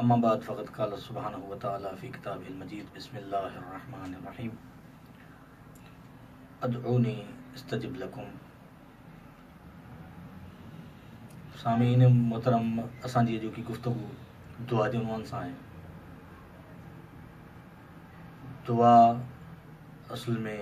اما بعد فقد قال سبحانه وتعالٰي في کتابه المجيد بسم الله الرحمٰن الرحيم ادعوني استجب لکم سامعين محترم اسان جي اڄوڪي گفتگو دعا جي عنوان سان آهي دعا اصل ۾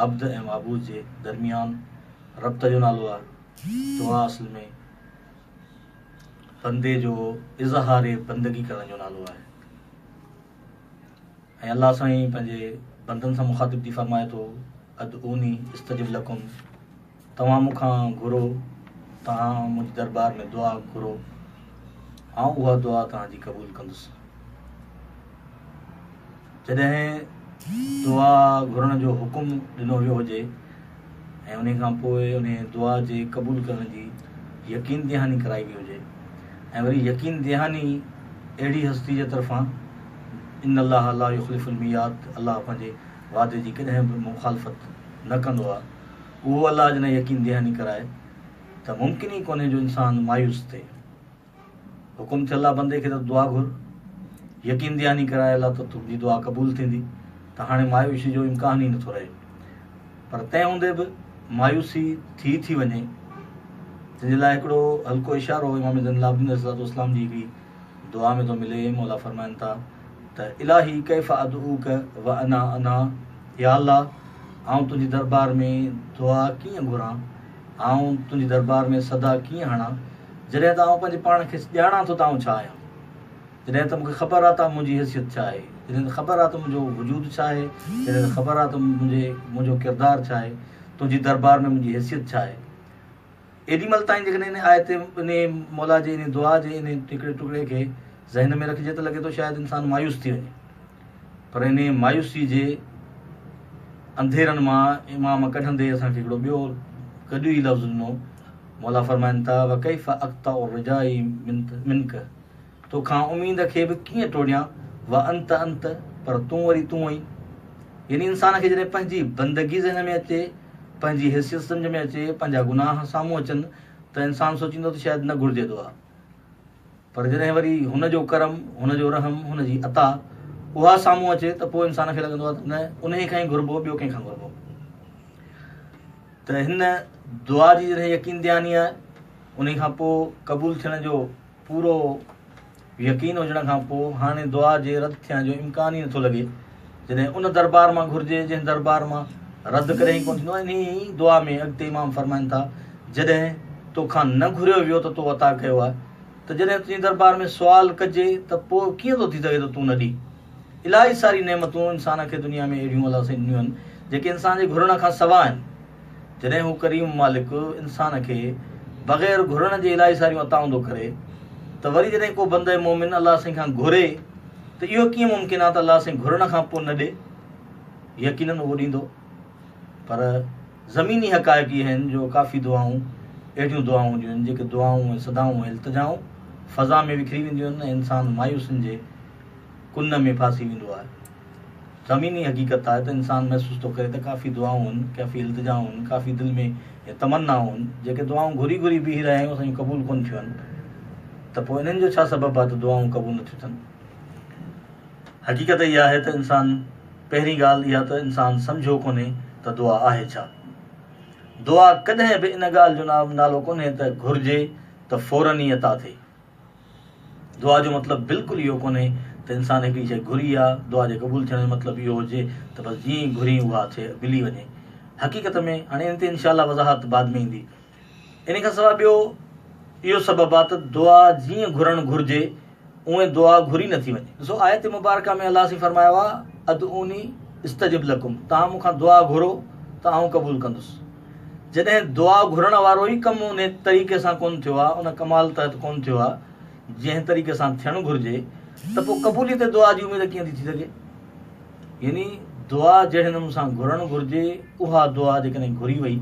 عبد ۽ معبود جي درميان ربط جو نالو آهي دعا اصل ۾ بندي جو اظهار بندگي ڪرڻ جو نالو آهي ۽ الله سائين پنهنجي بندن سان مخاطب ٿي فرمائي ٿو ادعوني استجب لکم توهان مون کان گهرو توهان منهنجي دربار ۾ دعا گهرو آئون اها دعا توهان جي قبول ڪندس جڏهن دعا گهرڻ جو حڪم ڏنو ويو هجي ۽ انهي کان پوء انهي دعا جي قبول ڪرڻ جي يقين دهاني ڪرائي وئي هجي ۽ وري يقين دهاني اهڙي هستي جي طرفان ان الله لا يخلف الميعاد الله پنهنجي وعدي جي ڪڏهن به مخالفت نه ڪندو آهي اهو الله جڏهن يقين دهاني ڪرائي ته ممڪن ئي ڪونهي جو انسان مايوس ٿئي. حڪم ٿيل آ بندي کي ته دعا گهر يقين دهاني ڪرائي الله ته تنهنجي دعا قبول ٿيندي ته هاڻي مايوسي جو امڪان ئي نٿو رهي پر تنهن هوندي به مايوسي ٿي ٿي وڃي تنهن جي لاء هڪڙو هلڪو اشارو امام زين العابدين عليه السلام جي هڪڙي دعا ۾ ٿو ملي مولا فرمائن ٿا ته الاهي ڪيف ادعوك وانا انا يا الله آئون تنهنجي دربار ۾ دعا ڪيئن گهران آئون تنهنجي دربار ۾ صدا ڪيئن هڻان، جڏهن ته آئون پنهنجي پاڻ کي ڄاڻان ٿو ته آئون ڇا آهيان. جڏهن ته مون کي خبر آهي ته منهنجي حيثيت ڇا آهي، جڏهن ته خبر آهي ته منهنجو وجود ڇا آهي، جڏهن ته خبر آهي ته منهنجي منهنجو ڪردار ڇا آهي، تنهنجي دربار ۾ منهنجي حيثيت ڇا آهي. ايڏي مهل تائين جيڪڏهن انهي آيت، انهي مولا جي انهي دعا جي انهي هڪڙي ٽڪڙي کي ذهن ۾ رکجي ته لڳي ٿو شايد انسان مايوس ٿي وڃي. پر انهيء مايوسيء جي انڌيرن مان امام ڪڍندي اسان کي هڪڙو ٻيو گڏيو ئي لفظ ڏنو. مولا فرمائن ٿا، وڪيف اقطع رجائي منڪ، تو کان اميد کي به ڪيئن ٽوڙيان، وانت انت، پر تون وري تون آهين. يعني انسان کي جڏهن پنهنجي بندگي ذهن ۾ اچي، پنهنجي حيثيت سمجهه ۾ اچي، پنهنجا گناهه سامهون اچن ته انسان سوچيندو ته شايد نه گهرجي دعا. پر جڏهن وري هن جو ڪرم، هن جو رحم، هن جي عطا اها سامهون اچي ته پوء انسان کي لڳندو آهي ته نه انهي کان ئي گهربو ٻيو ڪنهن کان گهربو. ته هن دعا جي جڏهن يقين دياني آهي انهي کان پوء قبول ٿيڻ جو پورو يقين هجڻ کان پوء هاڻي دعا جي رد ٿيڻ جو امڪان ئي نٿو لڳي. جڏهن ان دربار مان گهرجي جنهن دربار مان رد ڪڏهن ئي ڪونه ٿيندو آهي انهيء ئي دعا ۾ اڳتي امام فرمائن ٿا جڏهن تو کان نه گهريو ويو ته تو عطا ڪيو آهي ته جڏهن تنهنجي دربار ۾ سوال ڪجي ته پوء ڪيئن ٿو ٿي سگهي ته تون نه ڏين الائي ساري نعمتون انسان کي دنيا ۾ اهڙيون الله سائين ڏنيون آهن جيڪي انسان جي گهرڻ کان سواء آهن جڏهن هو ڪريم مالڪ انسان کي بغير گهرڻ جي الائي ساريون عطائون ٿو ڪري ته وري جڏهن ڪو بنده مومن الله سائين کان گهري ته اهو ڪيئن ممڪن آهي ته الله سائين گهرڻ کان پوء نه ڏي يقينن اهو ڏيندو پر زميني حقائق اهي آهن جو ڪافي دعائون اهڙيون دعائون هونديون آهن جيڪي دعائون ۽ صدائون ۽ التجائون فضا ۾ وکري وينديون آهن ۽ انسان مايوسين جي ڪن ۾ ڦاسي ويندو آهي زميني حقيقت آهي ته انسان محسوس ٿو ڪري ته ڪافي دعائون هن، ڪافي التجائون هن، ڪافي دل ۾ تمنائون هن، جيڪي دعائون گهري گهري بيهي رهيا آهيون، اسان جون قبول ڪونه ٿيون هن. ته پوء انهن جو ڇا سبب آهي ته دعائون قبول نه ٿيون ٿين؟ حقيقت اها آهي ته انسان پهرين ڳالهه اها ته انسان سمجهيو ڪونهي ته دعا آهي ڇا؟ دعا ڪڏهن به ان ڳالهه جو نالو ڪونهي ته گهرجي ته فوراً ئي عطا ٿئي. دعا جو مطلب بلڪل اهو ڪونهي ته انسان هڪڙي شيء گهري يا دعا جي قبول ٿيڻ جو مطلب اهو هجي ته بس جيئن ئي گهرين اها شيء ملي وڃي. حقيقت ۾ هاڻي ان تي انشاء الله وضاحت بعد ۾ ايندي. انهي کان سواء ٻيو اهو سبب آهي ته دعا جيئن گهرڻ گهرجي اونهي دعا گهري نه ٿي وڃي. ڏسو آيت مبارڪه ۾ الله سين فرمايو آهي ادعوني استجب لڪم توهان مون کان دعا گهرو ته آئون قبول ڪندس. جڏهن دعا گهرڻ وارو ئي ڪم ان طريقي سان ڪونه ٿيو آهي، ان ڪمال تحت ڪونه ٿيو آهي، جنهن طريقي سان ٿيڻ گهرجي، ته پوء قبوليت دعا جي اميد ڪيئن ٿي ٿي سگهي؟ يعني دعا جهڙي نموني سان گهرڻ گهرجي، اها دعا جيڪڏهن گهري وئي،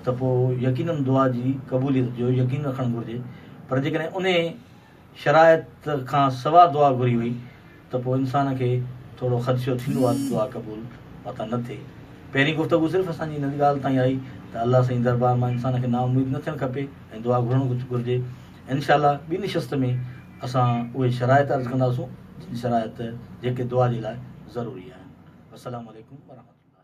ته پوء يقيناً دعا جي قبوليت جو يقين رکڻ گهرجي، پر جيڪڏهن انهي شرائط کان سوا دعا گهري هئي ته پوء انسان کي ٿورو خدشو ٿيندو آهي ته دعا قبول متان نه ٿئي. پهرين گفتگو صرف اسان جي ان ڳالهه تائين آئي ته الله سائين دربار مان انسان کي نااميد نه ٿيڻ کپي ۽ دعا گهرڻ گهرجي. انشاء الله ٻي نشست ۾ اسان اهي شرائط عرض ڪنداسون جن شرائط جيڪي دعا جي لاء ضروري آهن. والسلام عليڪم ورحمة الله.